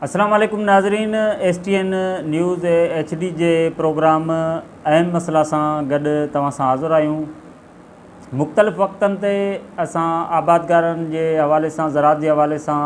السلام عليڪم ناظرين S T N news H D جي پروگرام اهم مسئلا سان گڏ توهان سان حاضر آهيون مختلف وقتن تي اسان آبادگارن جي حوالي سان زراعت جي حوالي سان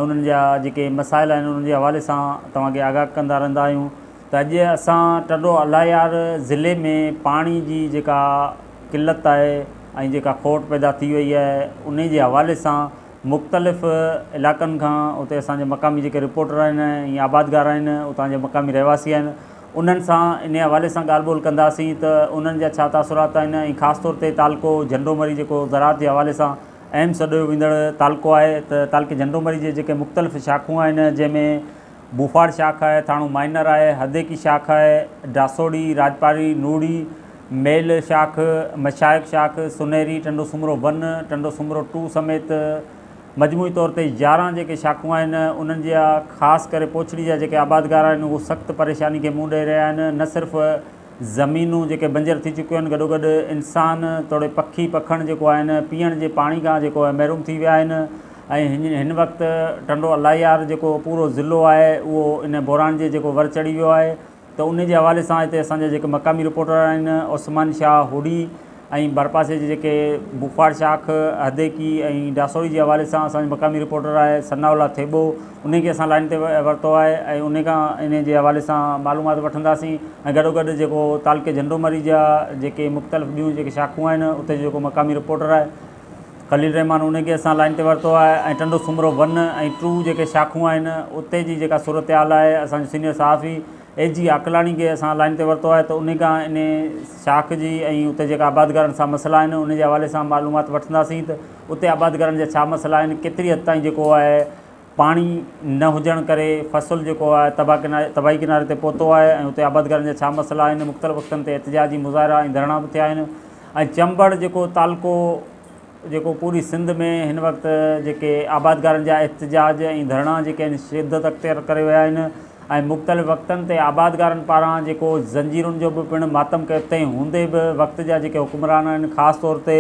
انهن جا جيڪي مسائل آهن انهن جي حوالي سان توهان کي آگاهه ڪندا رهندا آهيون ته اڄ اسان ٽنڊو الايار ضلعي ۾ پاڻي جي جيڪا قلت آهي ۽ جيڪا کوٽ پيدا ٿي وئي آهي ان جي حوالي سان مختلف علائقن کان اتي اسان جي مقامي جيڪي رپورٽر آهن ۽ آبادگار آهن اتان جا مقامي رهواسي آهن انهن سان انهي حوالي سان ڳالهه ٻولهه ڪنداسين ته انهن جا ڇا تاثرات آهن ۽ خاص طور تي تعلقو جهنڊو مري جيڪو زراعت جي حوالي سان اهم سڏيو ويندڙ تعلقو آهي ته تعلقي جهنڊو مري جي جيڪي مختلف شاخون آهن جنهن ۾ ڀوپاڙ شاخ آهي، ٿاڻو مائنر آهي، هديڪي شاخ آهي، ڊاسوڙي، راڄپاري، نوڙي، ميل شاخ، مشائخ شاخ، سنهري، ٽنڊو سومرو ون، ٽنڊو سومرو ٽو سميت مجموعي طور تي يارهن جيڪي شاخون آهن انهن جا خاص ڪري پوڇڙي جا جيڪي آبادگار آهن اهو سخت پريشاني کي منهن ڏئي رهيا آهن نه صرف زمينون جيڪي بنجر ٿي چڪيون آهن گڏوگڏ انسان توڙي پکي پکڻ جيڪو آهن پيئڻ جي پاڻي کان جيڪو آهي محروم ٿي ويا آهن ۽ هن وقت ٽنڊو الاهيار جيڪو پورو ضلعو آهي اهو ان بحران جي جيڪو ور چڙهي ويو آهي ته ان جي حوالي سان هتي اسان جا جيڪي مقامي رپورٽر آهن عثمان شاهه هوڏي ۽ ڀرپاسي جي جيڪي بخار شاخ، هديڪي ۽ ڊاسوري جي حوالي سان اسان جو مقامي رپورٽر آهي ثناء الله ٿيٻو انهي کي اسان لائين تي ورتو آهي ۽ انهي کان انهي جي حوالي سان معلومات وٺنداسين ۽ گڏوگڏ جيڪو تعلقي جهنڊومري جا جيڪي مختلف ٻيون جيڪي شاخون آهن اتي جو جيڪو مقامي رپورٽر آهي خليل رحمان انهي کي اسان لائين تي ورتو آهي ۽ ٽنڊو سومرو ون ۽ ٽو جيڪي شاخون آهن اتي جي جيڪا صورتحال آهي اسان جو سينيئر صحافي اي جي عاقلاڻي کي اسان لائين تي ورتو آهي ته انهي کان انهي شاخ جي ۽ اتي جيڪا آبادگارن سان مسئلا آهن ان جي حوالي سان معلومات وٺنداسين ته اتي آبادگارن جا ڇا مسئلا آهن ڪيتري حد تائين جيڪو آهي پاڻي نه هجڻ ڪري فصل جيڪو آهي تباهه ڪناري تباهي ڪناري تي پهتو آهي ۽ اتي آبادگارن جا ڇا مسئلا آهن مختلف وقتن تي احتجاجي مظاهرا ۽ ڌرڻا به ٿيا آهن ۽ چمبڙ جيڪو تعلقو جيڪو پوري سنڌ ۾ هن وقت جيڪي آبادگارن جا احتجاج ۽ ڌرڻا جيڪي آهن شدت اختيار ڪري ويا آهن ۽ مختلف وقتن تي آبادگارن پاران جيڪو زنجيرن جو به پڻ ماتم ڪيو تنهن هوندي به وقت جا جيڪي حڪمران آهن خاص طور تي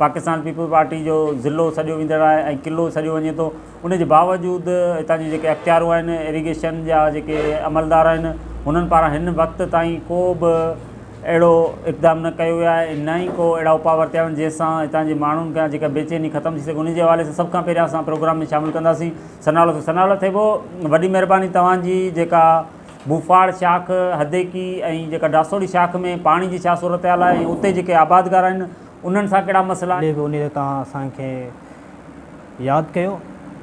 پاڪستان پيپلز پارٽي جو ضلعو سڏيو ويندڙ آهي ۽ قلعو سڏيو وڃي ٿو ان جي باوجود هتان جي جيڪي اختيارون آهن ايريگيشن جا جيڪي عملدار آهن هنن پاران هن وقت تائين ڪو به اهڙو اقدام نه ڪيو ويو آهي ۽ نه ئي ڪو اهڙا اپاء ورتيا ويا آهن جنهن سان هتان جي ماڻهن کان جيڪا بيچيني ختم ٿي سگهي انهي جي حوالي سان سڀ کان پهريان اسان پروگرام ۾ شامل ڪنداسين سناولو ٿي سناولو ٿي پئو وڏي مهرباني توهان جي جيڪا ڀوپاڙ شاخ هديڪي ۽ جيڪا ڊاسوڙي شاخ ۾ پاڻي جي ڇا صورتحال آهي ۽ اتي جيڪي آبادگار آهن انهن سان ڪهڙا مسئلا آهن. ڏي به انهي تان اسان کي. ياد ڪيو.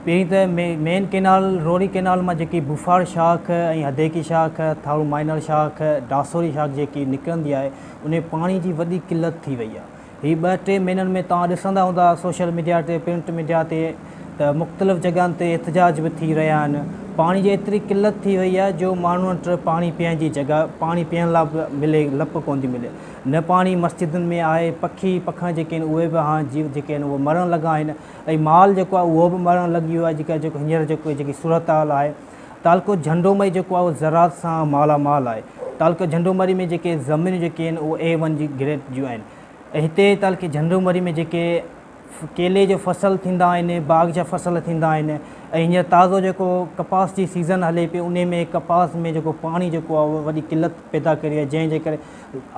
پهرين ته مين ڪئنال، روهڙي ڪئنال مان جيڪي بوفاڙ شاخ ۽ هديڪي شاخ، ٿارو مائنر شاخ، ڊاسوري شاخ جيڪي نڪرندي آهي، انهي پاڻي جي وڏي قلت ٿي وئي آهي. هي ٻه ٽي مهينن ۾ توهان ڏسندا هوندا سوشل ميڊيا تي، پرنٽ ميڊيا تي ته مختلف جڳهن تي احتجاج به ٿي رهيا آهن. پاڻي جي ايتري قلت ٿي وئي آهي جو ماڻهن وٽ پاڻي پيئڻ جي جڳهه، پاڻي پيئڻ لاء به ملي لپ ڪونه ٿي ملي. نه پاڻي مسجدن ۾ آهي، پکي پکڻ جيڪي آهن اهي به هاڻ جيو جيڪي آهن اهي مرڻ لڳا آهن ۽ مال جيڪو آهي اهو به مرڻ لڳي ويو آهي جيڪا جيڪو هينئر جيڪو جيڪي صورتحال آهي تعلقو جهنڊو مري جيڪو آهي اهو زراعت سان مالا مال آهي تعلقي جهنڊو مري ۾ جيڪي زمينون جيڪي آهن اهي اي ون جي گريڊ جون آهن ۽ هتي تعلقي جهنڊو مري ۾ جيڪي ڪيلي جو فصل ٿيندا آهن باغ جا فصل ٿيندا آهن ۽ هينئر تازو جيڪو ڪپاس جي سيزن هلي پئي انهي ۾ ڪپاس ۾ جيڪو پاڻي جيڪو آهي وڏي قلت پيدا ڪري آهي جنهن جي ڪري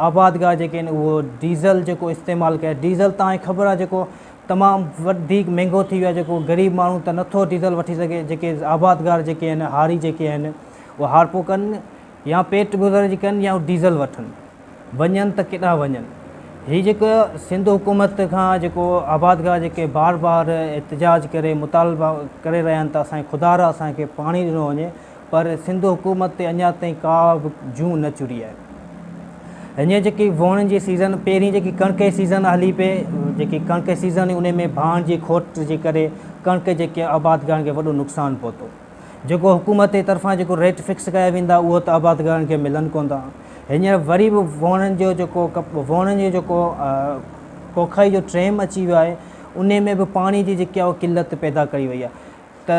آبادگار جيڪي آهن اهو ڊيزل جيڪو استعمال ڪري ڊيزل تان کي خبر آهي جيڪو تمام وڌيڪ مهنگو ٿي ويو آهي جيڪو غريب ماڻهو ته نٿو ڊيزل وٺي سگهي جيڪي آبادگار جيڪي آهن هاري جيڪي آهن اهو هارپو ڪن يا پيٽ گذر جي ڪن يا ڊيزل وٺن وڃن ته ڪيڏانهن وڃن؟ هي جيڪو سنڌ حڪومت کان جيڪو آبادگار جيڪي بار بار احتجاج ڪري مطالبا ڪري رهيا آهن ته اسان کي خدا را اسان کي پاڻي ڏنو وڃي پر سنڌ حڪومت تي اڃا تائين ڪا به جون نه چڙهي آهي. هينئر جيڪي ووڻن جي سيزن پهرين جيڪي ڪڻڪ جي سيزن هلي پئي جيڪي ڪڻڪ جي سيزن هئي ان ۾ ڀاڻ جي کوٽ جي ڪري ڪڻڪ جيڪي آبادگارن کي وڏو نقصان پهتو. جيڪو حڪومت جي طرفان جيڪو ريٽ فڪس ڪيا ويندا اهو ته آبادگارن کي ملن ڪوندا. هينئر وري به وهوڻن جو جيڪو وهوڻن جو جيڪو ڪوکائي جو ٽيم اچي ويو آهي انهي ۾ به پاڻي جي جيڪي اهو قلت پيدا ڪئي وئي آهي ته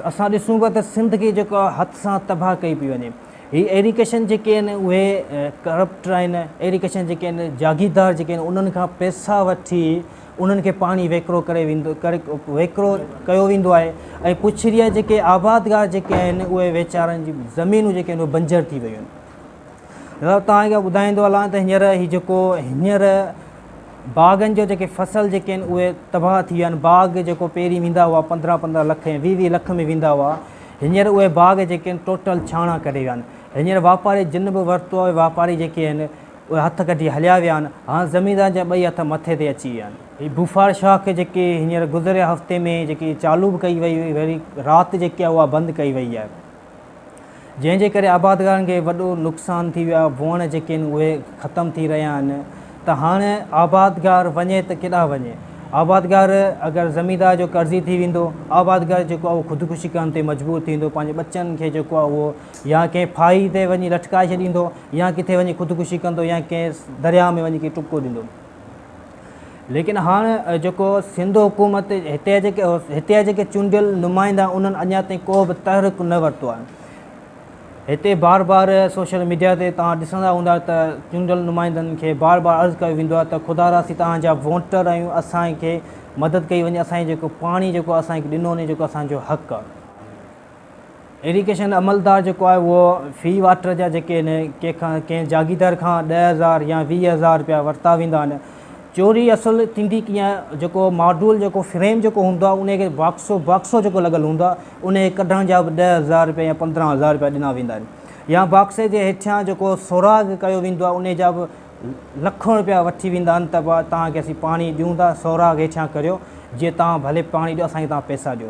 اسان ڏسون پيا ته سنڌ کي جيڪو هٿ سان تباهه ڪئي پئي وڃي. هي ايريگيشن جيڪي آهن اهي ڪرپٽ آهن ايريگيشن جيڪي آهن جاگيردار جيڪي آهن انهن کان پئسا وٺي انهن کي پاڻي ويڪرو ڪري ويندو ڪري ويڪرو ڪيو ويندو آهي ۽ پڇڙيء جا جيڪي آبادگار جيڪي آهن اهي ويچارن جي زمينون جيڪي آهن اهي بنجر ٿي ويون آهن توهان کي ٻڌائيندو هلان ته هينئر هي جيڪو هينئر باغن جو جيڪي فصل جيڪي آهن اهي تباهه ٿي ويا آهن باغ جيڪو پهرين ويندا هئا پندرهن پندرهن لک ۽ ويهه ويهه لک ۾ ويندا هئا هينئر اهي باغ جيڪي آهن ٽوٽل ڇاڻا ڪري ويا آهن هينئر واپاري جن به ورتو آهي واپاري جيڪي آهن اهي هٿ ڪڍي هليا ويا آهن، هاڻ زميندارن جا ٻئي هٿ مٿي تي اچي ويا آهن. هي بوفار شاخ جيڪي هينئر گذريل هفتي ۾ جيڪي چالو به ڪئي وئي هئي وري رات جيڪي آهي اها بند ڪئي وئي آهي جنهن جي ڪري آبادگارن کي وڏو نقصان ٿي ويو آهي ووڻ جيڪي آهن اهي ختم ٿي رهيا آهن ته هاڻ آبادگار وڃي ته ڪيڏانهن وڃي آبادگار اگر زميندار جو قرضي ٿي ويندو آبادگار جيڪو آهي اهو خودڪشي ڪرڻ تي مجبور ٿيندو پنهنجي ٻچن کي جيڪو آهي اهو يا ڪنهن ڦاهي تي وڃي لٽڪائي ڇڏيندو. يا ڪٿي وڃي خودڪشي ڪندو يا ڪنهن درياهه ۾ وڃي ڪنهن کي ٽپڪو ڏيندو. ليڪن هاڻ جيڪو سنڌ حڪومت هتي جا جيڪي هتي جا جيڪي چونڊيل نمائندا انهن اڃا تائين ڪو به تحرڪ نه ورتو آهي. هتي بار بار سوشل ميڊيا تي توهان ڏسندا هوندا ته چونڊيل نمائندن کي بار بار عرض ڪيو ويندو آهي ته خدا را اسين توهان جا ووٽر آهيون اسان کي مدد ڪئي وڃي اسان جي جيڪو پاڻي جيڪو اسان کي ڏنو وڃي جيڪو اسان جو حق آهي. ايريگيشن عملدار جيڪو آهي اهو في واٽر جا جيڪي آهن ڪنهن کان ڪنهن جاگيدار کان ڏهه هزار يا ويهه هزار رپيا ورتا ويندا آهن چوري اصل ٿيندي ڪيئن آهي جيڪو ماڊول جيڪو فريم جيڪو هوندو آهي ان کي باڪسو باڪسو جيڪو لڳل هوندو آهي ان کي ڪڍڻ جا به ڏهه هزار رپيا يا پندرهن هزار رپيا ڏنا ويندا آهن يا باڪسي جي هيٺيان جيڪو سوراخ ڪيو ويندو آهي ان جا به لکون رپيا وٺي ويندا آهن ته تان کي اسين پاڻي ڏيون ٿا سوراخ هيٺيان ڪريو جي تان ڀلي پاڻي ڏيو اسان کي تان پيسا ڏيو